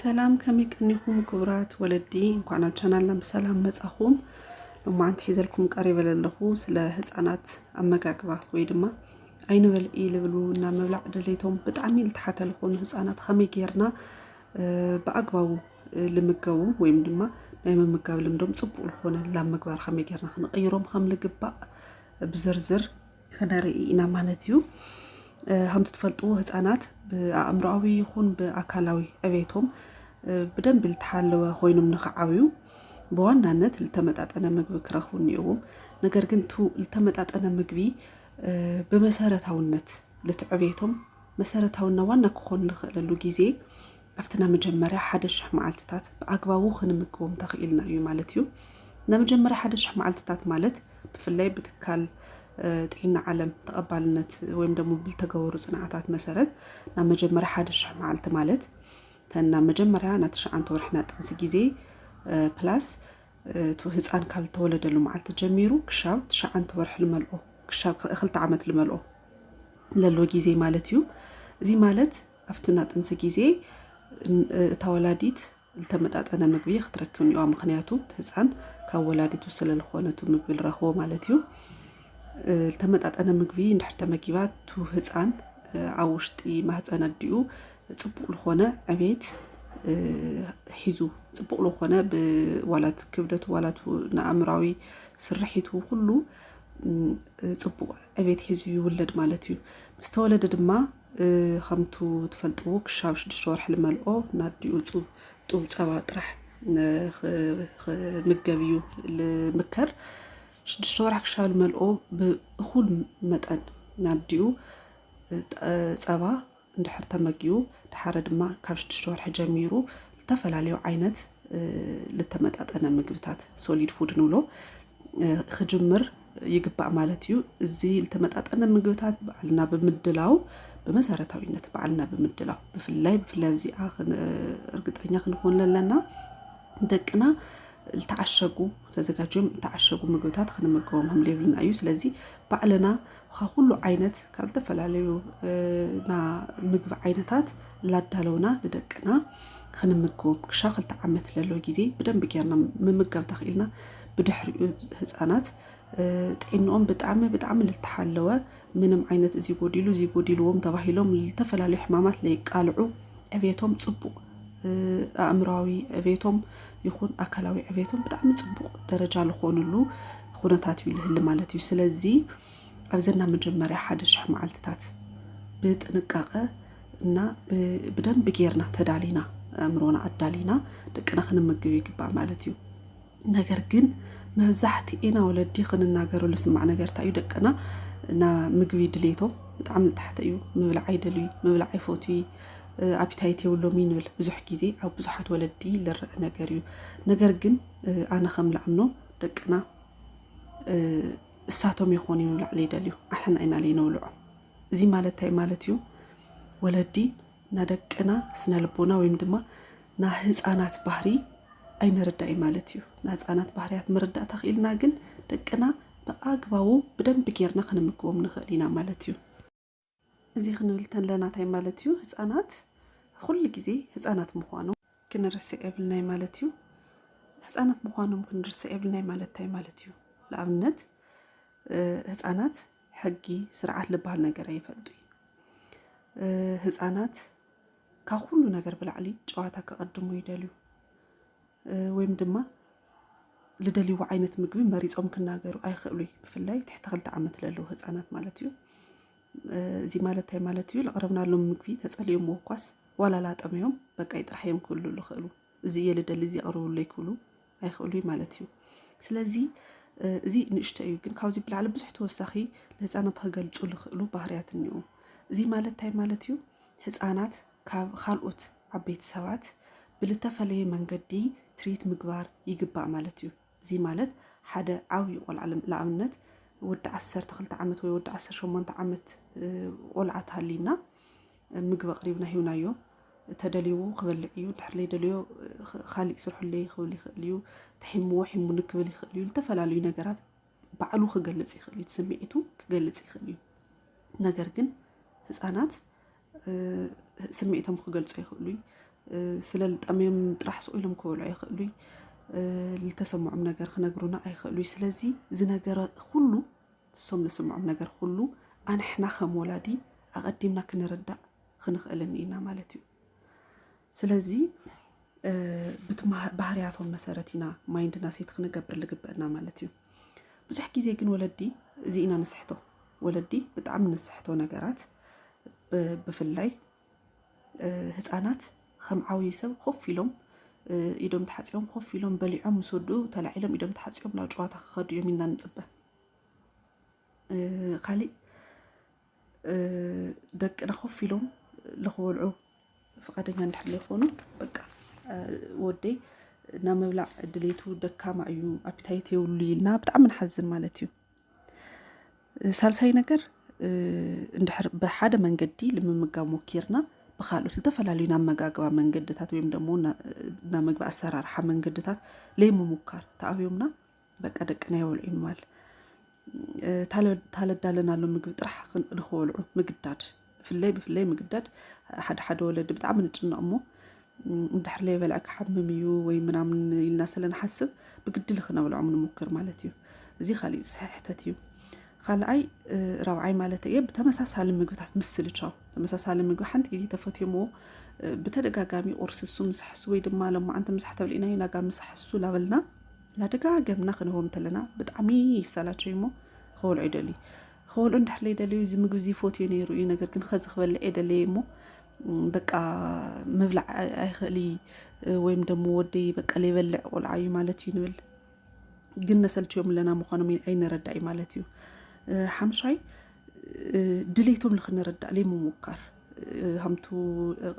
ሰላም ከመይ ቀኒኹም ክቡራት ወለዲ፣ እንኳን ናብ ቻናልና ብሰላም መጻኹም። ሎማዓንቲ ሒዘልኩም ቀሪበ ዘለኹ ስለ ህፃናት ኣመጋግባ ወይ ድማ ኣይንበልዒ ልብሉ እና ምብላዕ ድሌቶም ብጣዕሚ ልተሓተ ዝኾኑ ህፃናት ከመይ ጌርና ብኣግባቡ ልምገቡ ወይም ድማ ናይ ምምጋብ ልምዶም ፅቡቅ ልኾነ ላብ ምግባር ከመይ ጌርና ክንቕይሮም ከም ልግባእ ብዝርዝር ከነርኢ ኢና ማለት እዩ። ከምቲ ትፈልጥዎ ህፃናት ብኣእምሮኣዊ ይኹን ብኣካላዊ ዕቤቶም ብደንቢ ዝተሓለወ ኮይኖም ንክዓብዩ ብዋናነት ዝተመጣጠነ ምግቢ ክረኽቡ እኒኦዎም። ነገር ግን ዝተመጣጠነ ምግቢ ብመሰረታውነት ልቲ ዕቤቶም መሰረታውና ዋና ክኾን ንክእለሉ ግዜ ኣብቲ ናይ መጀመርያ ሓደ ሽሕ መዓልትታት ብኣግባቡ ክንምግቦም ተኽኢልና እዩ ማለት እዩ። ናይ መጀመርያ ሓደ ሽሕ መዓልትታት ማለት ብፍላይ ብትካል ጥዒና ዓለም ተቐባልነት ወይም ደሞ ብልተገበሩ ጽንዓታት መሰረት ናብ መጀመርያ ሓደ ሽሕ መዓልቲ ማለት ተን ናብ መጀመርያ ናይ ትሽዓንተ ወርሒ ናይ ጥንሲ ግዜ ፕላስ እቲ ህፃን ካብ ዝተወለደሉ መዓልቲ ጀሚሩ ክሻብ ትሽዓንተ ወርሒ ልመልኦ ክሻብ ክልተ ዓመት ልመልኦ ለሎ ግዜ ማለት እዩ። እዚ ማለት ኣብቲ ናጥንሲ ግዜ እታ ወላዲት ልተመጣጠነ ምግቢ ክትረክብ እኒኦዋ ምክንያቱ እቲ ህፃን ካብ ወላዲቱ ስለልኾነ እቲ ምግቢ ልረኽቦ ማለት እዩ ልተመጣጠነ ምግቢ እንድሕር ተመጊባ እቱ ህፃን ኣብ ውሽጢ ማህፀን ኣዲኡ ፅቡቅ ልኾነ ዕቤት ሒዙ ፅቡቅ ልኾነ ብዋላት ክብደቱ ዋላት ንኣእምራዊ ስርሒቱ ኩሉ ፅቡቅ ዕቤት ሒዙ ይውለድ ማለት እዩ ምስተወለደ ድማ ከምቱ ትፈልጥዎ ክሻብ ሽዱሽተ ወርሒ ልመልኦ ናዲኡ ጡብ ፀባ ጥራሕ ክምገብ እዩ ልምከር። ሽዱሽተ ወርሒ ክሻብ ልመልኦ ብእኹል መጠን ናዲኡ ፀባ እንድሕር ተመጊቡ ድሓረ ድማ ካብ ሽዱሽተ ወርሒ ጀሚሩ ዝተፈላለዩ ዓይነት ልተመጣጠነ ምግብታት ሶሊድ ፉድ ንብሎ ክጅምር ይግባእ ማለት እዩ። እዚ ዝተመጣጠነ ምግብታት ባዕልና ብምድላው ብመሰረታዊነት ባዕልና ብምድላው ብፍላይ ብፍላይ ኣብዚኣ እርግጠኛ ክንኾን ለለና ደቅና ዝተዓሸጉ ተዘጋጅዮም ዝተዓሸጉ ምግብታት ክንምገቦም ከም ዘይብልና እዩ ስለዚ ባዕልና ካብ ኩሉ ዓይነት ካብ ዝተፈላለዩ ና ምግቢ ዓይነታት ላዳለውና ንደቅና ክንምግቦም ክሻ ክልተ ዓመት ለሎ ጊዜ ብደንቢ ጌርና ምምጋብ ተኽኢልና ብድሕሪኡ ህፃናት ጥዒንኦም ብጣዕሚ ብጣዕሚ ልተሓለወ ምንም ዓይነት እዚ ጎዲሉ እዚ ጎዲልዎም ተባሂሎም ልተፈላለዩ ሕማማት ለይቃልዑ ዕብየቶም ፅቡቕ ኣእምራዊ ዕብየቶም ይኹን ኣካላዊ ዕብየቶም ብጣዕሚ ፅቡቕ ደረጃ ልኾኑሉ ኹነታት እዩ ልህሊ ማለት እዩ ስለዚ ኣብዘና መጀመርያ ሓደ ሽሕ መዓልትታት ብጥንቃቐ እና ብደንቢ ጌርና ተዳሊና ኣእምሮና ኣዳሊና ደቅና ክንምግብ ይግባእ ማለት እዩ ነገር ግን መብዛሕቲኤና ወለዲ ክንናገሮ ልስማዕ ነገር እንታይ እዩ ደቅና ና ምግቢ ድሌቶም ብጣዕሚ ዝታሕተ እዩ ምብላዕ ኣይደልዩ ምብላዕ ኣይፈትዩ ኣፒታይት የብሎም እዩ ንብል ብዙሕ ግዜ ኣብ ብዙሓት ወለዲ ልርእ ነገር እዩ ነገር ግን ኣነ ከም ልኣምኖ ደቅና እሳቶም ይኾኑ ምብላዕ ለይደልዩ ኣሕና ኢና ለይነብልዖ እዚ ማለት እንታይ ማለት እዩ ወለዲ ናይ ደቅና ስነ ልቦና ወይም ድማ ናይ ህፃናት ባህሪ ኣይንርዳይ ማለት እዩ። ናይ ህፃናት ባህርያት ምርዳእ ተኽኢልና ግን ደቅና ብኣግባቡ ብደንብ ጌርና ክንምግቦም ንኽእል ኢና ማለት እዩ። እዚ ክንብል ተለና እንታይ ማለት እዩ? ህፃናት ኩሉ ግዜ ህፃናት ምዃኖም ክንርስዕ የብልናይ ማለት እዩ ህፃናት ምዃኖም ክንርስዕ የብልናይ ማለት እንታይ ማለት እዩ ንኣብነት ህፃናት ሕጊ ስርዓት ልበሃል ነገር ኣይፈልጡ ህፃናት ካብ ኩሉ ነገር ብላዕሊ ጨዋታ ክቐድሙ ይደልዩ ወይም ድማ ልደልይዎ ዓይነት ምግቢ መሪፆም ክናገሩ ኣይኽእሉ ብፍላይ ትሕቲ ክልተ ዓመት ለለዉ ህፃናት ማለት እዩ እዚ ማለት እንታይ ማለት እዩ? ለቕረብናሎም ምግቢ ተጸሊኦምዎ እኳስ ዋላ ላጠመዮም በቃይ ጥራሕ እዮም ክብሉ ዝኽእሉ። እዚ እየ ልደሊ እዚ ኣቕርብለይ ክብሉ ኣይኽእሉ እዩ ማለት እዩ። ስለዚ እዚ ንእሽቶ እዩ፣ ግን ካብዚ ብላዕሊ ብዙሕ ተወሳኺ ንህፃናት ክገልፁ ዝኽእሉ ባህርያት እኒኡ። እዚ ማለት እንታይ ማለት እዩ? ህፃናት ካብ ካልኦት ዓበይቲ ሰባት ብልተፈለየ መንገዲ ትሪት ምግባር ይግባእ ማለት እዩ። እዚ ማለት ሓደ ዓብዩ ቆልዓ ልኣምነት ወዲ ዓሰርተ ክልተ ዓመት ወይ ወዲ ዓሰርተ ሸሞንተ ዓመት ቆልዓ ተሃልዩና ምግቢ ኣቕሪብና ሂውናዮ ተደልይዎ ክበልዕ እዩ ድሕር ለይደልዮ ካሊእ ስርሑለይ ክብል ይኽእል እዩ ተሒምዎ ሒሙኒ ክብል ይኽእል እዩ ዝተፈላለዩ ነገራት ባዕሉ ክገልፅ ይኽእል እዩ ስምዒቱ ክገልፅ ይኽእል እዩ ነገር ግን ህፃናት ስምዒቶም ክገልፁ ይኽእሉ እዩ። ስለ ልጠምዮም ጥራሕ ስቅ ኢሎም ክበልዑ ይኽእሉ እዩ። ልተሰምዖም ነገር ክነግሩና ኣይኽእሉ እዩ። ስለዚ ዝነገረ ኩሉ እሶም ልስምዖም ነገር ኩሉ ኣንሕና ከም ወላዲ ኣቐዲምና ክንርዳእ ክንኽእልን ኢና ማለት እዩ። ስለዚ ብቲ ባህርያቶም መሰረት ኢና ማይንድና ሴት ክንገብር ልግበእና ማለት እዩ ብዙሕ ግዜ ግን ወለዲ እዚ ኢና ንስሕቶ ወለዲ ብጣዕሚ ንስሕቶ ነገራት ብፍላይ ህፃናት ከም ዓብዪ ሰብ ኮፍ ኢሎም ኢዶም ተሓፂቦም ኮፍ ኢሎም በሊዖም ምስ ወድኡ ተላዒሎም ኢዶም ተሓፂቦም ናብ ጨዋታ ክኸዱ እዮም ኢልና ንፅበ። ካሊእ ደቅና ኮፍ ኢሎም ልክበልዑ ፍቃደኛ እንድሕር ዘይኮኑ በቃ ወደይ ናብ ምብላዕ ድሌቱ ደካማ እዩ ኣፒታይት የብሉ ኢልና ብጣዕሚ ንሓዝን ማለት እዩ ሳልሳይ ነገር እንድሕር ብሓደ መንገዲ ልምምጋብ ሞኪርና ብካልኦት ዝተፈላለዩ ናብ መጋግባ መንገድታት ወይም ደግሞ ናብ ምግቢ ኣሰራርሓ መንገድታት ለይምሙካር ተኣብዮምና በቃ ደቅና የበልዑ ማል ታለዳለናሎ ምግቢ ጥራሕ ንክበልዑ ምግዳድ ብፍለይ ብፍለይ ምግዳድ ሓደ ሓደ ወለዲ ብጣዕሚ ንጭነቕ እሞ እንድሕር ለይበልዐ ክሓምም እዩ ወይ ምናምን ኢልና ስለንሓስብ ብግዲ ልክነብልዖም ንሙክር ማለት እዩ እዚ ካሊእ ስሕሕተት እዩ ካልኣይ ራብዓይ ማለት እየ ብተመሳሳሊ ምግብታት ምስልቻው ተመሳሳሊ ምግቢ ሓንቲ ግዜ ተፈትዮምዎ ብተደጋጋሚ ቁርሲ እሱ ምሳሕሱ ወይ ድማ ሎማዓንቲ ምሳሕ ተብልኢናዩ ናጋ ምሳሕሱ ላበልና ናደጋገምና ክንህቦም እንተለና ብጣዕሚ ይሰላቸዩ እሞ ክበልዑ ይደልዩ ክበልዑ እንድሕር ዘይደልዩ እዚ ምግቢ እዚ ይፈትዮ ነይሩ እዩ ነገር ግን ከዚ ክበልዕ የደለየ እሞ በቃ ምብላዕ ኣይኽእል ወይም ደሞ ወደይ በቃ ዘይበልዕ ቆልዓ እዩ ማለት እዩ ንብል ግን ነሰልችዮም ኣለና ምዃኖም ኣይነረዳ እዩ ማለት እዩ ሓምሻይ ድሌቶም ንክንረዳእ ዘይምሙካር ሃምቱ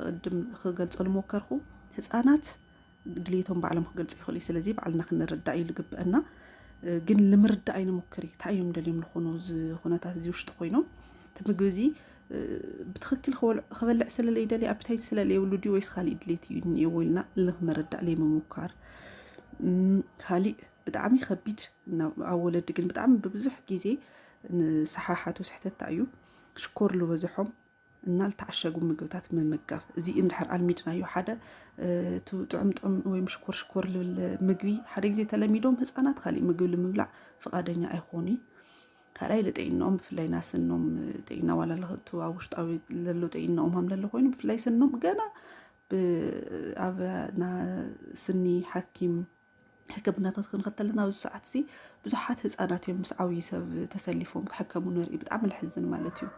ቅድም ክገልፆ ልሞከርኩ ህፃናት ድልየቶም ባዕሎም ክገልፁ ይኽእሉ እዩ። ስለዚ ባዕልና ክንርዳእ እዩ ዝግበአና። ግን ንምርዳእ ኣይንሙክር እዩ። እንታይ እዮም ደልዮም ዝኾኑ እዚ ኩነታት እዚ ውሽጢ ኮይኖም እቲ ምግቢ እዚ ብትኽክል ክበልዕ ስለለይ ደልየ ኣፒታይት ስለለይ የብሉ ድዩ ወይስ ካሊእ ድሌት እዩ እኒኤዎ ኢልና ንምርዳእ ዘይምሙኳር ካሊእ ብጣዕሚ ከቢድ ኣብ ወለዲ ግን ብጣዕሚ ብብዙሕ ግዜ ንሰሓሓቱ ስሕተታ እዩ ሽኮር ዝበዝሖም እና ዝተዓሸጉ ምግብታት ምምጋብ እዚ እንድሕር ኣልሚድናዮ ሓደ እቲ ጥዑም ጥዑም ወይም ሽኮር ሽኮር ልብል ምግቢ ሓደ ግዜ ተለሚዶም ህፃናት ካሊእ ምግቢ ንምብላዕ ፍቃደኛ ኣይኾኑ ካልኣይ ልጥዕኖኦም ብፍላይ ና ስኖም ጥዕና ዋላ ለክቱ ኣብ ውሽጣዊ ለሎ ጥዕኖኦም ሃም ለሎ ኮይኑ ብፍላይ ስኖም ገና ኣብ ስኒ ሓኪም ሕክምናታት ክንኸተል ኣለና። ኣብዚ ሰዓት እዚ ብዙሓት ህፃናት እዮም ምስ ዓብዪ ሰብ ተሰሊፎም ክሕከሙ ንርኢ። ብጣዕሚ ልሕዝን ማለት እዩ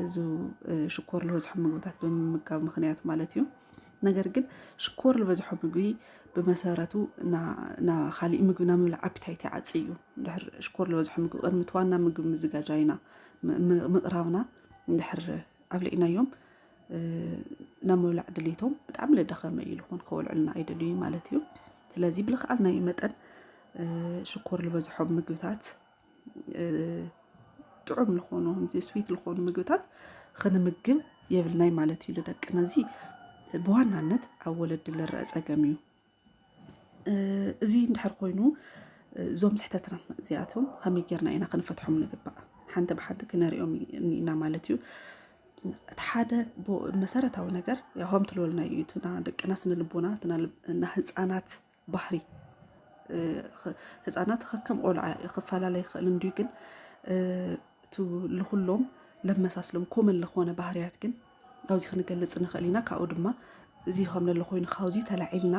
እዚ ሽኮር ዝበዝሖም ምግብታት ብምምጋብ ምክንያት ማለት እዩ። ነገር ግን ሽኮር ዝበዝሖ ምግቢ ብመሰረቱ ካሊእ ምግቢ ናብ ምብላዕ ኣፒታይት ይዓፂ እዩ። እንድሕር ሽኮር ዝበዝሖ ምግቢ ቅድሚ እቲ ዋና ምግቢ ምዝጋጃይና ምቕራብና እንድሕር ኣብሊዕናዮም ናብ ምብላዕ ድሌቶም ብጣዕሚ ለዳኸመ እዩ ልኾን ከወልዕልና ኣይደልዩ ማለት እዩ ስለዚ ብልክዓልናዩ መጠን ሽኮር ዝበዝሖም ምግብታት ጥዑም ልኾኑ ስዊት ልኾኑ ምግብታት ኽንምግብ የብልናይ ማለት እዩ ልደቅና እዚ ብዋናነት ኣብ ወለዲ ልረአ ፀገም እዩ እዚ እንድሕር ኮይኑ እዞም ስሕተትናት እዚኣቶም ከመይ ጌርና ኢና ክንፈትሖም ንግባእ ሓንቲ ብሓንቲ ክነሪኦም ኢና ማለት እዩ እቲ ሓደ መሰረታዊ ነገር ያሆም ትልወልና እዩ እትና ደቅና ስነ ልቦና እና ህፃናት ባህሪ ህፃናት ከከም ቆልዓ ክፈላለ ይኽእል እንድዩ ግን እቲ ልኹሎም ለመሳስሎም ኮመን ለኾነ ባህርያት ግን ካብዚ ክንገልጽ ንኽእል ኢና ካብኡ ድማ እዚ ከም ዘሎ ኮይኑ ካብዚ ተላዒልና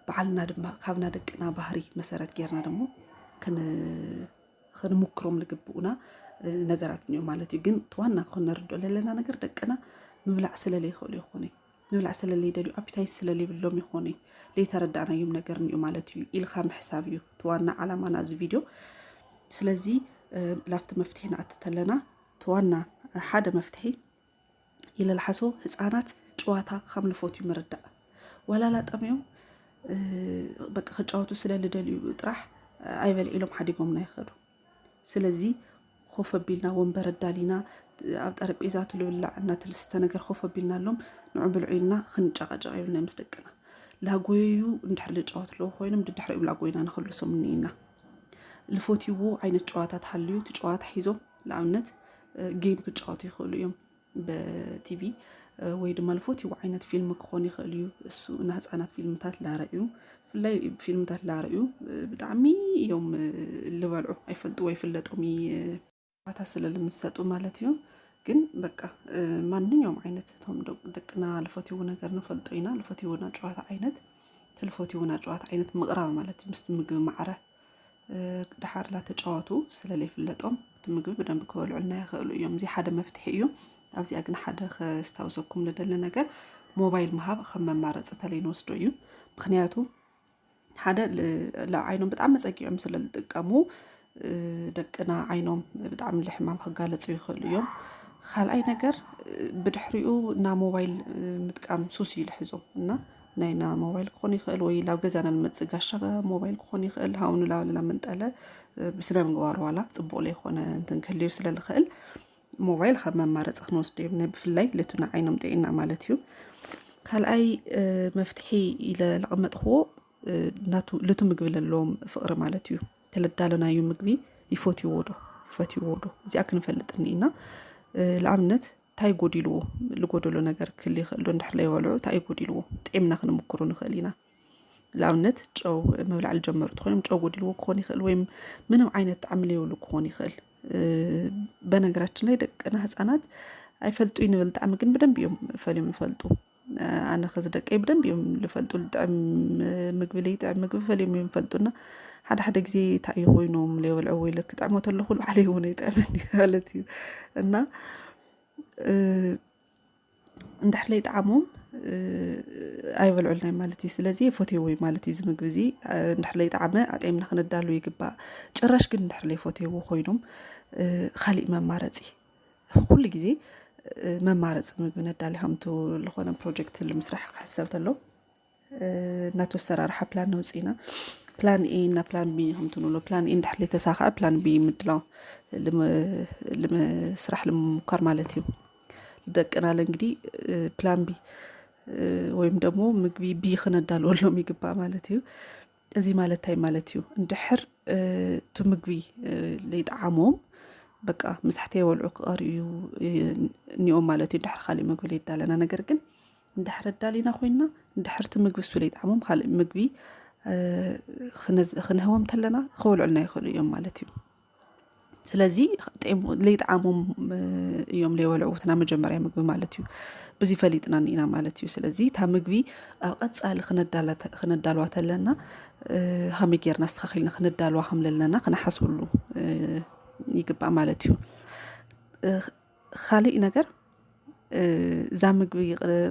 በዓልና ድማ ካብና ደቅና ባህሪ መሰረት ጌርና ደሞ ክንምክሮም ልግብኡና ነገራት እኒኦ ማለት እዩ ግን ዋና ክንርድኦ ዘለና ነገር ደቅና ምብላዕ ስለለይኽእሉ ይኾነ ምብላዕ ስለለይደልዩ ኣፒታይት ስለለይብሎም ይኾነ ለይተረዳእናዮም ነገር እኒኦ ማለት እዩ ኢልካ ምሕሳብ እዩ እቲ ዋና ዓላማና እዚ ቪድዮ ስለዚ ላፍቲ መፍትሒ ንኣትተለና እቲ ዋና ሓደ መፍትሒ ይለልሓሶ ህፃናት ጨዋታ ከም ልፎትዩ ምርዳእ ዋላላ ጠሚዮም በቂ ክጫወቱ ስለ ልደልዩ ጥራሕ ኣይበልዒሎም ሓዲጎምና ይኸዱ ስለዚ ኮፍ ኣቢልና ወንበር ኣዳሊና ኣብ ጠረጴዛ ትልብላዕ እና ትልስተ ነገር ኮፍ ኣቢልና ኣሎም ንዑ ብልዑ ኢልና ክንጨቃጨቅ ይብልና ምስ ደቅና ላጎየዩ እንድሕር ልጫወት ኣለዎ ኮይኖም ድድሕሪኡ ላጎይና ንክልሶም እኒኢና ልፎትይዎ ዓይነት ጨዋታ ተሃልዩ እቲ ጨዋታ ሒዞም ንኣብነት ጌም ክጫወቱ ይኽእሉ እዮም ብቲቪ ወይ ድማ ልፎትዎ ዓይነት ፊልም ክኾን ይኽእል እዩ እሱ ንህፃናት ፊልምታት ላረእዩ ብፍላይ ፊልምታት ላረእዩ ብጣዕሚ እዮም ልበልዑ ኣይፈልጡ ወይ ፍለጦም ባታ ስለ ልምሰጡ ማለት እዩ ግን በቃ ማንኛውም ዓይነት እቶም ደቅና ልፈትዎ ነገር ንፈልጦ ኢና ልፈትዎ ናይ ጨዋታ ዓይነት ትልፎትዎ ናይ ጨዋታ ዓይነት ምቕራብ ማለት እዩ ምስቲ ምግቢ ማዕረ ድሓርላ ተጫወቱ ስለለይፍለጦም እቲ ምግቢ ብደንብ ክበልዑልና ይኽእሉ እዮም። እዚ ሓደ መፍትሒ እዩ። ኣብዚኣ ግን ሓደ ከስታውሰኩም ልደሊ ነገር ሞባይል ምሃብ ከም መማረፂ ተለይ ንወስዶ እዩ። ምክንያቱ ሓደ ንዓይኖም ብጣዕሚ ፀጊዖም ስለ ዝጥቀሙ ደቅና ዓይኖም ብጣዕሚ ልሕማም ክጋለፁ ይኽእሉ እዮም። ካልኣይ ነገር ብድሕሪኡ ናብ ሞባይል ምጥቃም ሱስ እዩ ልሕዞም እና ናይና ሞባይል ክኾን ይኽእል ወይ ላብ ገዛና ንመፅእ ጋሻ ሞባይል ክኾን ይኽእል ሃው ንላልና ምንጠለ ብስነ ምግባር ዋላ ፅቡቅ ለይኮነ እንትን ክህልዩ ስለ ልኽእል ሞባይል ካብ መማረፂ ክንወስዶ የብልና ብፍላይ ልቱና ዓይኖም ጥዒና ማለት እዩ ካልኣይ መፍትሒ ኢለ ለቐመጥክዎ ናቱ ልቱ ምግቢ ለለዎም ፍቕሪ ማለት እዩ ተለዳለናዩ ምግቢ ይፈትዎ ዶ ፈትዎ ዶ እዚኣ ክንፈልጥ እኒኢና ንኣብነት እንታይ ጎዲልዎ ዝጎደሎ ነገር ክል ይኽእል ዶ እንድሕር ለይበልዑ እንታይ እዩ ጎዲልዎ ጥዒምና ክንምክሩ ንኽእል ኢና ንኣብነት ጨው ምብላዕ ዝጀመሩ ትኾይኖም ጨው ጎዲልዎ ክኾን ይኽእል ወይም ምንም ዓይነት ጣዕሚ ለይብሉ ክኾን ይኽእል በነገራችን ላይ ደቅና ህፃናት ኣይፈልጡ ይንብል ጣዕሚ ግን ብደንብ እዮም ፈልዮም ይፈልጡ ኣነ ከዚ ደቀይ ብደንብ እዮም ዝፈልጡ ጥዕም ምግቢ ለይጥዕም ምግቢ ፈልዮም እዮም ዝፈልጡና ሓደ ሓደ ግዜ እንታይ እዩ ኮይኖም ለይበልዐ ወይ ለክጥዕሞ ተለኹ ባዕለይ እውን ኣይጥዕመኒ ማለት እዩ እና እንድሕር ለይጠዓሞም ኣይበልዑልናይ ማለት እዩ ስለዚ ፎቴዎ ማለት እዩ ዝምግቢ እዚ እንድሕር ለይጠዓመ ኣጥዕምና ክንዳሉ ይግባእ ጭራሽ ግን እንድሕር ለይፎቴዎ ኮይኖም ካሊእ መማረፂ ኩሉ ግዜ መማረፂ ምግቢ ነዳሊ ከምቱ ዝኾነ ፕሮጀክት ንምስራሕ ክሕሰብ ተሎ እናቱ ኣሰራርሓ ፕላን ነውፅኢና ፕላን ኤ እና ፕላን ቢ ከምቱ ንብሎ ፕላን ኤ እንድሕር ተሳክዐ ፕላን ቢ ምድላው ስራሕ ልምምኳር ማለት እዩ። ደቅናለ እንግዲህ ፕላን ቢ ወይም ደግሞ ምግቢ ቢ ክነዳልወሎም ይግባእ ማለት እዩ። እዚ ማለት እንታይ ማለት እዩ? እንድሕር እቲ ምግቢ ለይጠዓሞም በቃ ምሳሕተይ ወልዑ ክቐርዩ እኒኦም ማለት እዩ እንድሕር ካሊእ ምግቢ ለይዳለና ነገር ግን እንድሕር ኣዳሊና ኮይንና እንድሕር እቲ ምግቢ እሱ ለይጠዓሞም ካሊእ ምግቢ ክንህቦም ተለና ክበልዑልና ይኽእሉ እዮም ማለት እዩ። ስለዚ ለይጠዓሞም እዮም ለይበልዑ እቲ ናይ መጀመርያ ምግቢ ማለት እዩ ብዚ ፈሊጥና እኒኢና ማለት እዩ ስለዚ እታ ምግቢ ኣብ ቀፃሊ ክነዳልዋ ተለና ሃመይ ጌርና ኣስተኻኺልና ክነዳልዋ ከም ዘለና ክነሓስበሉ ይግባእ ማለት እዩ ኻሊእ ነገር እዛ ምግቢ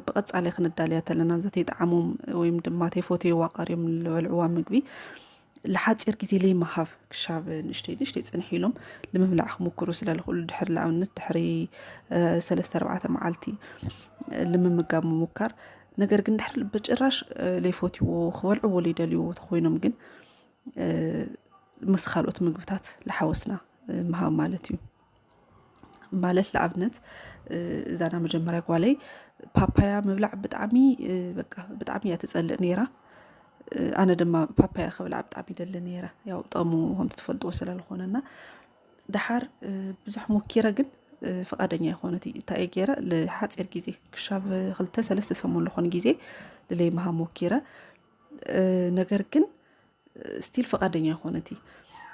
ብቐፃሊ ክንዳልያ ተለና እዛ ተይጠዓሞም ወይም ድማ ተይፈትይዋ ቀርዮም ዝበልዕዋ ምግቢ ልሓፂር ግዜ ለይመሃብ ክሻብ ንእሽተይ ንእሽተይ ፅንሕ ኢሎም ንምብላዕ ክምክሩ ስለልኽእሉ ድሕሪ ንኣብነት ድሕሪ ሰለስተ ኣርባዕተ መዓልቲ ልምምጋብ ምሙካር ነገር ግን ድሕሪ ብጭራሽ ለይፈትይዎ ክበልዕዎ ለይደልይዎ ተኾይኖም ግን ምስ ካልኦት ምግብታት ልሓወስና ምሃብ ማለት እዩ። ማለት ንኣብነት እዛ ናይ መጀመርያ ጓለይ ፓፓያ ምብላዕ ብጣዕሚ በቃ ብጣዕሚ እያ ትፀልእ ነይራ። ኣነ ድማ ፓፓያ ክብላዕ ብጣዕሚ ይደሊ ነይረ ያው ጥቕሙ ከምቲ ትፈልጥዎ ስለዝኾነ እና ደሓር ብዙሕ ሞኪረ ግን ፍቓደኛ ኣይኮነት እዩ እንታይ እየ ገይረ ንሓፂር ግዜ ክሻብ ክልተ ሰለስተ ሰሙን ዝኾን ግዜ ንለይምሃብ ሞኪረ ነገር ግን ስቲል ፈቃደኛ ኮነት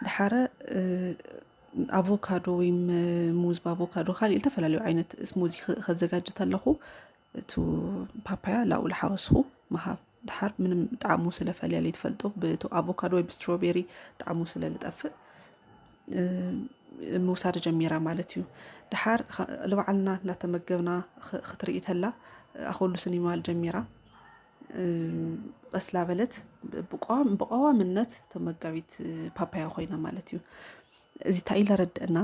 ድሓረ ኣቮካዶ ወይ ሙዝ ብኣቮካዶ ካልእ ዝተፈላለዩ ዓይነት ስሙዚ ከዘጋጅ ተለኹ እቱ ፓፓያ ላብኡ ላሓወስኹ ምሃብ ድሓር ምንም ጣዕሙ ስለፈልያ ለይትፈልጦ ብእቱ ኣቮካዶ ወይ ብስትሮቤሪ ጣዕሙ ስለ ልጠፍእ ምውሳድ ጀሚራ ማለት እዩ ድሓር ልባዓልና እናተመገብና ክትርኢ ተላ ኣኸሉ ስኒማል ጀሚራ ቀስ ላበለት ብቀዋምነት ተመጋቢት ፓፓያ ኮይና ማለት እዩ እዚ እንታይ ኢለ ረድአና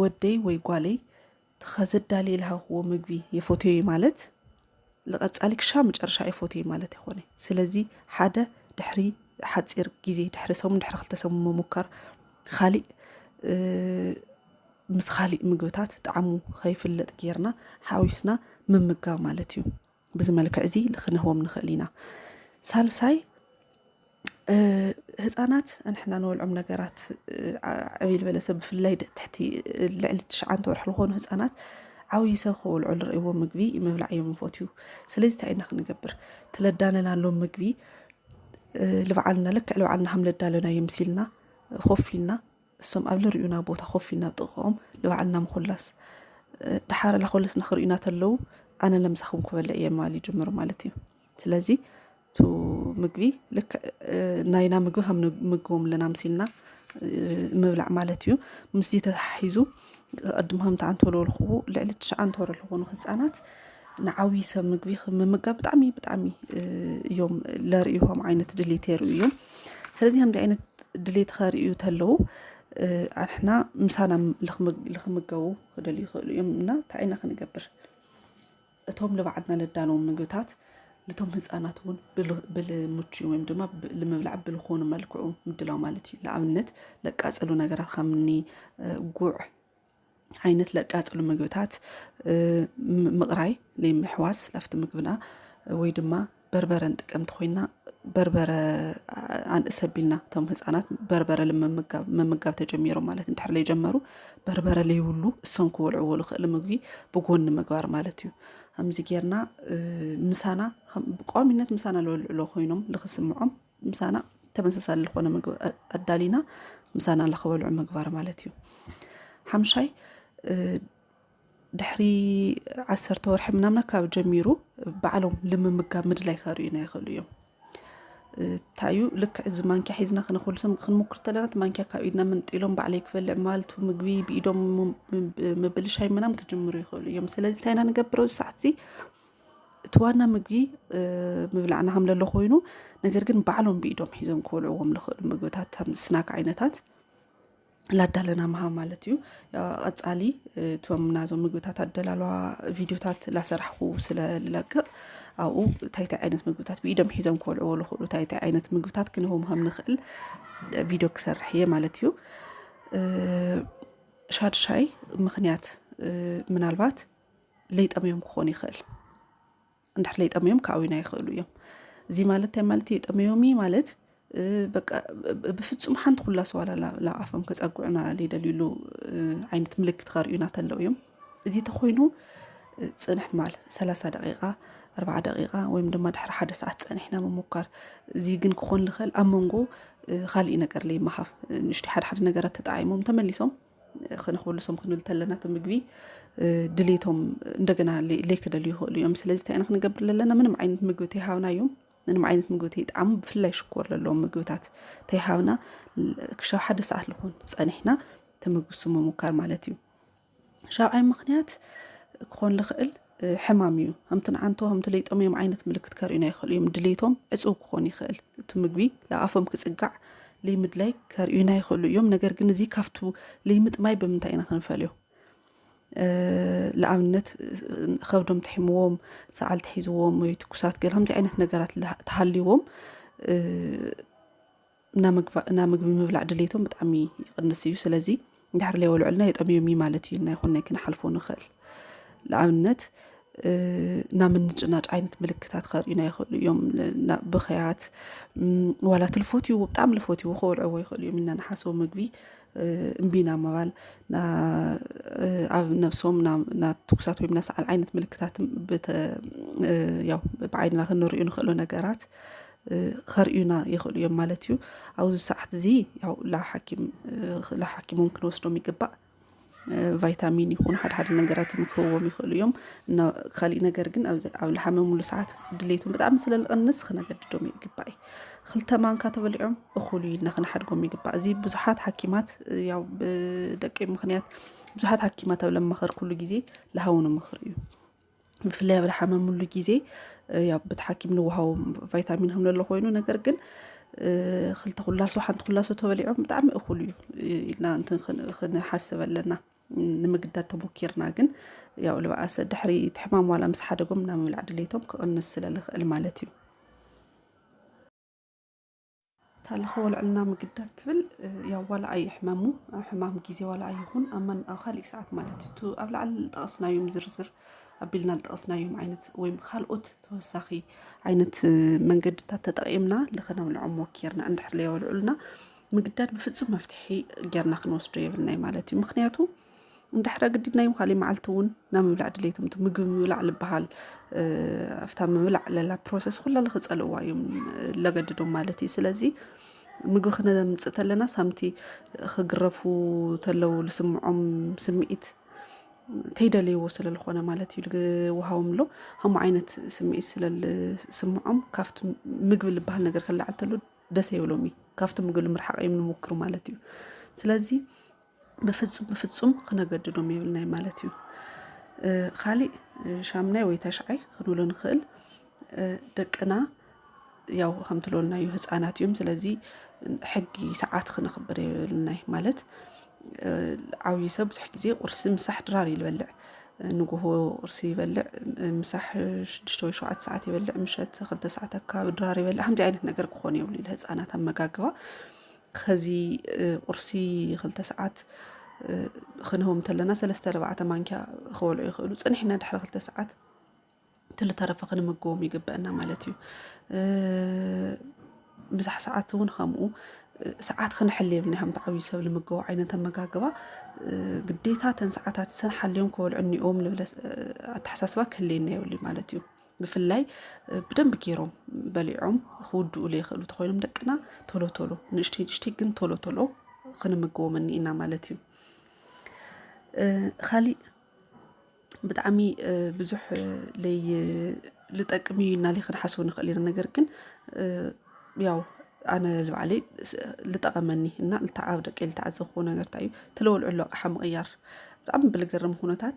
ወደይ ወይ ጓለይ ከዘዳልየ ልሃብክዎ ምግቢ የፎትዮ ማለት ንቐፃሊ ክሻብ መጨረሻ የፎትዮ ማለት ይኮነ ስለዚ ሓደ ድሕሪ ሓፂር ግዜ ድሕሪ ሰሙን ድሕሪ ክልተ ሰሙን ምሙካር ካሊእ ምስ ካሊእ ምግብታት ጣዕሙ ከይፍለጥ ጌርና ሓዊስና ምምጋብ ማለት እዩ ብዚ መልክዕ እዚ ልክንህቦም ንክእል ኢና ሳልሳይ ህፃናት ንሕና ንበልዖም ነገራት ዕብይ ዝበለ ሰብ ብፍላይ ትሕቲ ልዕሊ ትሽዓተ ወርሒ ዝኾኑ ህፃናት ዓብዪ ሰብ ክበልዑ ዝርእይዎ ምግቢ ምብላዕ እዮም ይፈትዩ ስለዚ እንታይ ኢና ክንገብር ትለዳለናሎም ምግቢ ልብዓልና ልክዕ ልብዓልና ከም ለዳለናዮ ምስ ኢልና ኮፍ ኢልና እሶም ኣብ ልርእዩና ቦታ ኮፍ ኢልና ጥቕኦም ልባዕልና ምኹላስ ድሓረ ላኾለስና ክርእዩና ተለዉ ኣነ ለምሳኹም ክበለ እየ ማል ይጅምሩ ማለት እዩ ስለዚ ቱ ምግቢ ልክ ናይና ምግቢ ከም ምግቦም ኣለና ምሲልና ምብላዕ ማለት እዩ ምስዚ ተታሒዙ ቅድም ከምቲ ኣንተ ወለወልክዎ ልዕሊ ትሽዓንተ ወርሒ ዝኾኑ ህፃናት ንዓብዪ ሰብ ምግቢ ምምጋብ ብጣዕሚ ብጣዕሚ እዮም ለርእዩ ከም ዓይነት ድሌት የርእዩ እዮም ስለዚ ከምዚ ዓይነት ድሌት ከርእዩ ተለዉ ኣንሕና ምሳና ልክምገቡ ክደልዩ ይኽእሉ እዮም እና እንታይ ኢና ክንገብር እቶም ልባዕድና ለዳለዎም ምግብታት ልቶም ህፃናት እውን ብልምቹ ወይም ድማ ልምብላዕ ብልኾኑ መልክዑ ምድላው ማለት እዩ ለኣብነት ለቃፀሉ ነገራት ከምኒ ጉዕ ዓይነት ለቃፀሉ ምግብታት ምቕራይ ለይምሕዋስ ላፍቲ ምግብና ወይ ድማ በርበረ ንጥቀም እንተኾይንና በርበረ ኣንእስ ኣቢልና እቶም ህፃናት በርበረ ምምጋብ ምምጋብ ተጀሚሮም ማለት እንድሕር ዘይጀመሩ በርበረ ለይብሉ እሶም ክበልዕዎ ዝኽእል ምግቢ ብጎኒ ምግባር ማለት እዩ ከምዚ ጌርና ምሳና ብቋሚነት ምሳና ዝበልዕሎ ኮይኖም ልክስምዖም ምሳና ተመሳሳሊ ዝኾነ ምግቢ ኣዳሊና ምሳና ልክበልዑ ምግባር ማለት እዩ ሓምሻይ ድሕሪ ዓሰርተ ወርሒ ምናምን ኣካባቢ ጀሚሩ ባዕሎም ልምምጋብ ምድላይ ከርእዩና ይኽእሉ እዮም ታዩ ልክዕ እዚ ማንኪያ ሒዝና ክነክሉ ክንሞክር ተለና እቲ ማንኪያ ካብ ኢድና ምንጢሎም ባዕለይ ክበልዕ ማለት ምግቢ ብኢዶም ምብልሻይ ምናም ክጅምሩ ይኽእሉ እዮም ስለዚ እንታይ ኢና ንገብረው ሰዓት እዚ እቲ ዋና ምግቢ ምብላዕና ከም ለሎ ኮይኑ ነገር ግን ባዕሎም ብኢዶም ሒዞም ክበልዕዎም ዝኽእሉ ምግብታት ከም ስናክ ዓይነታት ላዳለና ምሃብ ማለት እዩ ቐፃሊ እቶም ናዞም ምግብታት ኣደላልዋ ቪድዮታት ላሰራሕኹ ስለ ልለቅቕ ኣብኡ ታይታይ ዓይነት ምግብታት ብኢዶም ሒዞም ክበልዕዎ ልኽእሉ ታይታይ ዓይነት ምግብታት ክንህቦም ከም ንኽእል ቪድዮ ክሰርሕ እየ ማለት እዩ ሻድሻይ ምኽንያት ምናልባት ለይጠምዮም ክኾን ይኽእል እንድሕር ለይጠመዮም ክኣውዩና ይኽእሉ እዮም እዚ ማለት እንታይ ማለት እዩ የጠመዮም እዩ ማለት በቃ ብፍጹም ሓንቲ ኩላ ሰዋላ ላብ ኣፎም ከፀጉዑና ለይደልዩሉ ዓይነት ምልክት ከርእዩና ተለው እዮም እዚ ተኮይኑ ፅንሕ ማል ሰላሳ ደቂቃ ኣርባዓ ደቂቃ ወይም ድማ ድሕሪ ሓደ ሰዓት ፀኒሕና ምሙኳር እዚ ግን ክኾን ዝኽእል ኣብ መንጎ ካሊእ ነገር ለይመሃብ ንእሽተይ ሓደ ሓደ ነገራት ተጣዒሞም ተመሊሶም ክንክብሉ ሶም ክንብል ተለና እቲ ምግቢ ድሌቶም እንደገና ለይክደልዩ ይኽእሉ እዮም ስለዚ እንታይ ኢና ክንገብር ለለና ምንም ዓይነት ምግቢ ተይሃብናዮም ምንም ዓይነት ምግቢ ተይጣዕሙ ብፍላይ ሽኮር ለለዎም ምግብታት ተይሃብና ክሻብ ሓደ ሰዓት ልኾን ፀኒሕና ተመግሱ ምሙካር ማለት እዩ ሻብዓይ ምኽንያት ክኾን ልኽእል ሕማም እዩ። ከምቲ ንዓንቶ ከምቲ ለይጦም እዮም ዓይነት ምልክት ከርእዩና ይኽእሉ እዮም። ድሌቶም ዕፁው ክኾን ይኽእል እቲ ምግቢ ለኣፎም ክፅጋዕ ለይምድላይ ከርእዩና ይኽእሉ እዮም። ነገር ግን እዚ ካብቱ ለይምጥማይ ብምንታይ ኢና ክንፈልዮ? ንኣብነት ከብዶም ትሒምዎም፣ ሰዓል ትሒዝዎም ወይ ትኩሳት ገለ ከምዚ ዓይነት ነገራት ተሃልይዎም እና ምግቢ ምብላዕ ድሌቶም ብጣዕሚ ይቕንስ እዩ ስለዚ ድሕሪ ለይወልዑልና የጠምዮም እዩ ማለት እዩ ኢልና ይኹን ናይ ክንሓልፎ ንኽእል ንኣብነት እና ምንጭናጭ ዓይነት ምልክታት ከርእዩና ይኽእሉ እዮም ብኸያት ዋላ ትልፎት ይዎ ብጣዕሚ ልፎት ይዎ ክወልዕዎ ይኽእሉ እዮም ኢና ንሓስቦ ምግቢ እምቢና ምባል ኣብ ነብሶም ናትኩሳት ወይም ናሰዓል ዓይነት ምልክታት ያው ብዓይንና ክንርእዩ ንኽእሎ ነገራት ከርእዩና ይኽእሉ እዮም ማለት እዩ። ኣብዚ ሰዓት እዚ ያው ላሓኪሞም ክንወስዶም ይግባእ። ቫይታሚን ይኹን ሓደ ሓደ ነገራት ክህዎም ይኽእሉ እዮም። እና ካሊእ ነገር ግን ኣብ ዝሓመምሉ ሰዓት ድሌቶም ብጣዕሚ ስለ ዝቕንስ ክነገድዶም ይግባእ እዩ። ክልተ ማንካ ተበሊዖም እኹል እዩ ኢልና ክንሓድጎም ይግባእ። እዚ ብዙሓት ሓኪማት ያው ብደቀይ ምኽንያት ብዙሓት ሓኪማት ኣብ ለማኸርኩሉ ግዜ ልሃቡኒ ምኽሪ እዩ። ብፍላይ ኣብ ዝሓመምሉ ግዜ ያው በቲ ሓኪም ንወሃቦም ቫይታሚን ከም ዘሎ ኮይኑ ነገር ግን ክልተ ኩላሶ ሓንቲ ኩላሶ ተበሊዖም ብጣዕሚ እኹል እዩ ኢልና እንትን ክንሓስብ ኣለና ንምግዳድ ተሞኪርና ግን ያው ልበኣሰ ድሕሪ እቲ ሕማም ዋላ ምስ ሓደጎም ናብ ምብላዕ ድሌቶም ክቕንስ ስለዝኽእል ማለት እዩ እታ ልኸወልዕልና ምግዳድ ትብል ያው ዋላ ኣይሕመሙ ሕማም ግዜ ዋላ ኣይኹን ኣብ መን ኣብ ካሊእ ሰዓት ማለት እዩ እቲ ኣብ ላዕሊ ዝጠቐስናዮም ዝርዝር ኣቢልና ዝጠቐስናዮም ዓይነት ወይም ካልኦት ተወሳኺ ዓይነት መንገድታት ተጠቒምና ልኸነብልዖም ሞኪርና እንድሕር ለየወልዑልና ምግዳድ ብፍፁም መፍትሒ ጌርና ክንወስዶ የብልናይ ማለት እዩ ምክንያቱ እንድሕር ኣግዲድናዮም ካሊእ መዓልቲ እውን ናብ ምብላዕ ድሌቶም እቲ ምግቢ ምብላዕ ዝበሃል ኣብታ ምብላዕ ለላ ፕሮሰስ ኩላ ልክፀልእዋ እዮም ለገድዶም ማለት እዩ ስለዚ ምግቢ ክነምፅእ ተለና ሳምቲ ክግረፉ ተለው ዝስምዖም ስምዒት ተይደልይዎ ስለዝኾነ ማለት እዩ ውሃቦም ኣሎ ከምኡ ዓይነት ስምዒት ስለዝስምዖም ካብቲ ምግቢ ዝበሃል ነገር ክለዓል ተሎ ደስ ይብሎም እዩ ካብቲ ምግቢ ንምርሓቕ እዮም ንምክሩ ማለት እዩ ስለዚ ብፍፁም ብፍፁም ክነገድዶም የብልናይ ማለት እዩ ካሊእ ሻምናይ ወይ ተሽዓይ ክንብሎ ንኽእል ደቅና ያው ከምትለወልና እዩ ህፃናት እዮም ስለዚ ሕጊ ሰዓት ክነኽብር የብልናይ ማለት ዓብዪ ሰብ ብዙሕ ግዜ ቁርሲ ምሳሕ ድራር እዩ ዝበልዕ ንጉሆ ቁርሲ ይበልዕ ምሳሕ ሽዱሽተ ወይ ሸውዓተ ሰዓት ይበልዕ ምሸት ክልተ ሰዓት ኣካባቢ ድራር ይበልዕ ከምዚ ዓይነት ነገር ክኾን የብሉ ንህፃናት ኣመጋግባ ኸዚ ቁርሲ ክልተ ሰዓት ኽንህቦም እንተለና ሰለስተ ኣርባዕተ ማንኪያ ክበልዑ ይኽእሉ ፅኒሕና ድሕሪ ክልተ ሰዓት ትልተረፈ ክንምግቦም ይግበአና ማለት እዩ ምሳሕ ሰዓት እውን ከምኡ ሰዓት ክንሕል የብልና ከምቲ ዓብዪ ሰብ ልምገቡ ዓይነት ኣመጋግባ ግዴታ ተን ሰዓታት ሰን ሓልዮም ክበልዑ እኒኦም ልብለ ኣተሓሳስባ ክህልየና የብሉ ማለት እዩ ብፍላይ ብደንብ ገይሮም በሊዖም ክውድኡሉ የኽእሉ ተኾይኖም ደቅና ቶሎ ቶሎ ንእሽተይ ንእሽተይ ግን ቶሎ ቶሎ ክንምግቦም እኒኢና ማለት እዩ ካሊእ ብጣዕሚ ብዙሕ ለይ ልጠቅም እዩ ኢልና ለይ ክንሓስቡ ንኽእል ኢና ነገር ግን ያው ኣነ ልባዕለይ ልጠቐመኒ እና ልተዓብ ደቂ ልተዓዘብኩዎ ነገር እንታይ እዩ ተለወልዑ ኣሎ ኣቕሓ ምቕያር ብጣዕሚ ብልገርም ኩነታት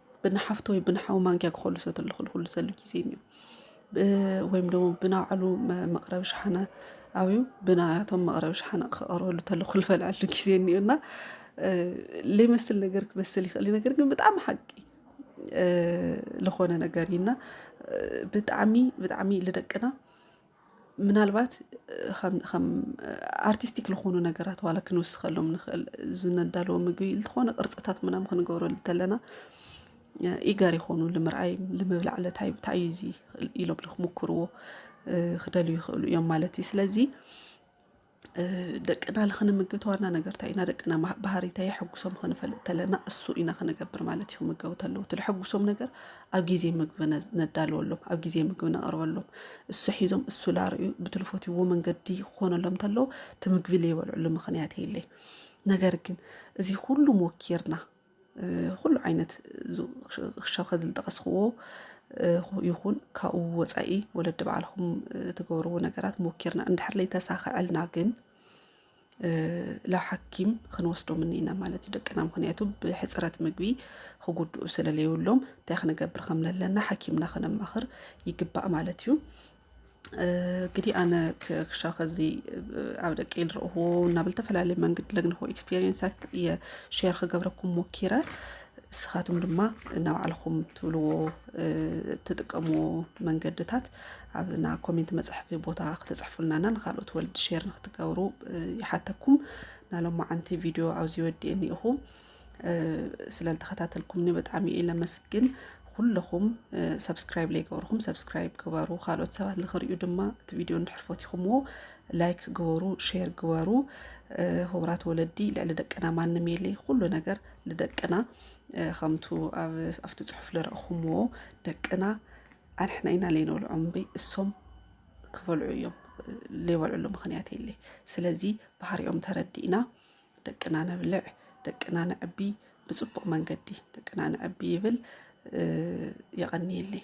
ብንሓፍቶ ወይ ብንሓው ማንኪያ ክኸሉ ሰት ልኽል ኩሉ ሰሉ ጊዜ እዩ ወይም ደግሞ ብናዕሉ መቕረቢ ሸሓነ ኣብዩ ብናያቶም መቕረቢ ሸሓነ ክቐርበሉ ተሉ ክልፈልዐሉ ጊዜ እኒዩ እና ለይመስል ነገር ክመስል ይኽእል ነገር ግን ብጣዕሚ ሓቂ ዝኾነ ነገር እዩና ብጣዕሚ ብጣዕሚ ልደቅና ምናልባት ከም ኣርቲስቲክ ዝኾኑ ነገራት ዋላ ክንውስኸሎም ንኽእል ዝነዳለዎ ምግቢ ዝኾነ ቅርፅታት ምናምን ክንገብሮ እንተለና ኢገር ይኾኑ ንምርኣይ ንምብላዕ ለታይ እንታይ እዩ እዚ ኢሎም ክምኩርዎ ክደልዩ ይኽእሉ እዮም ማለት እዩ ስለዚ ደቅና ንክንምግብ ተዋና ነገር እንታይ ኢና ደቅና ባህሪ እንታይ የሐጉሶም ክንፈልጥ ተለና እሱ ኢና ክንገብር ማለት እዩ ክምገቡ ተለዉ ትልሐጉሶም ነገር ኣብ ግዜ ምግቢ ነዳልወሎም ኣብ ግዜ ምግቢ ነቕርበሎም እሱ ሒዞም እሱ ላርእዩ ብትልፎትዎ መንገዲ ክኾነሎም ተለዉ እቲ ምግቢ ዘይበልዕሉ ምክንያት የለይ ነገር ግን እዚ ኩሉ ሞኪርና ኹሉ ዓይነት ክሻብ ኸዚ ዝጠቐስኽዎ ይኹን ካብኡ ወፃኢ ወለዲ ባዕልኹም ትገብርዎ ነገራት ሞኪርና እንድሕር ለይተሳኸዐልና ግን ላብ ሓኪም ክንወስዶም እኒና ማለት እዩ ደቅና ምክንያቱ ብሕፅረት ምግቢ ክጉድኡ ስለለይብሎም እንታይ ክንገብር ከም ለለና ሓኪምና ከነማኽር ይግባእ ማለት እዩ። ግዲ ኣነ ክሻ ከዚ ኣብ ደቂ ልረእዎ እናብ ዝተፈላለየ መንገድ ለግንኹ ኤክስፔሪንሳት እየ ሸር ክገብረኩም ሞኪረ ንስኻትኩም ድማ ናብ ዓልኹም ትብልዎ ትጥቀምዎ መንገድታት ኣብና ኮሜንት መጽሕፊ ቦታ ክተጽሕፉልናና ንኻልኦት ወልድ ሸር ንክትገብሩ ይሓተኩም ናሎም መዓንቲ ቪድዮ ኣውዚ ወዲኤኒ ኢኹ። ስለዝተኸታተልኩምኒ ብጣዕሚ እየ ለመስግን ኩለኹም ሰብስክራይብ ለይገበርኹም ሰብስክራይብ ግበሩ ካልኦት ሰባት ንክሪኡ ድማ እቲ ቪድዮ እንድሕር ፈቲኹምዎ ላይክ ግበሩ ሼር ግበሩ ሁብራት ወለዲ ልዕሊ ደቅና ማንም የለ ኩሉ ነገር ልደቅና ከምቱ ኣብቲ ፅሑፍ ልረእኹምዎ ደቅና ኣንሕና ኢና ለይነብልዖ እምበይ እሶም ክበልዑ እዮም ለይበልዕሉ ምክንያት የለ ስለዚ ባህሪኦም ተረዲእና ደቅና ነብልዕ፣ ደቅና ነዕቢ፣ ብፅቡቕ መንገዲ ደቅና ነዕቢ ይብል። የቐንየለይ።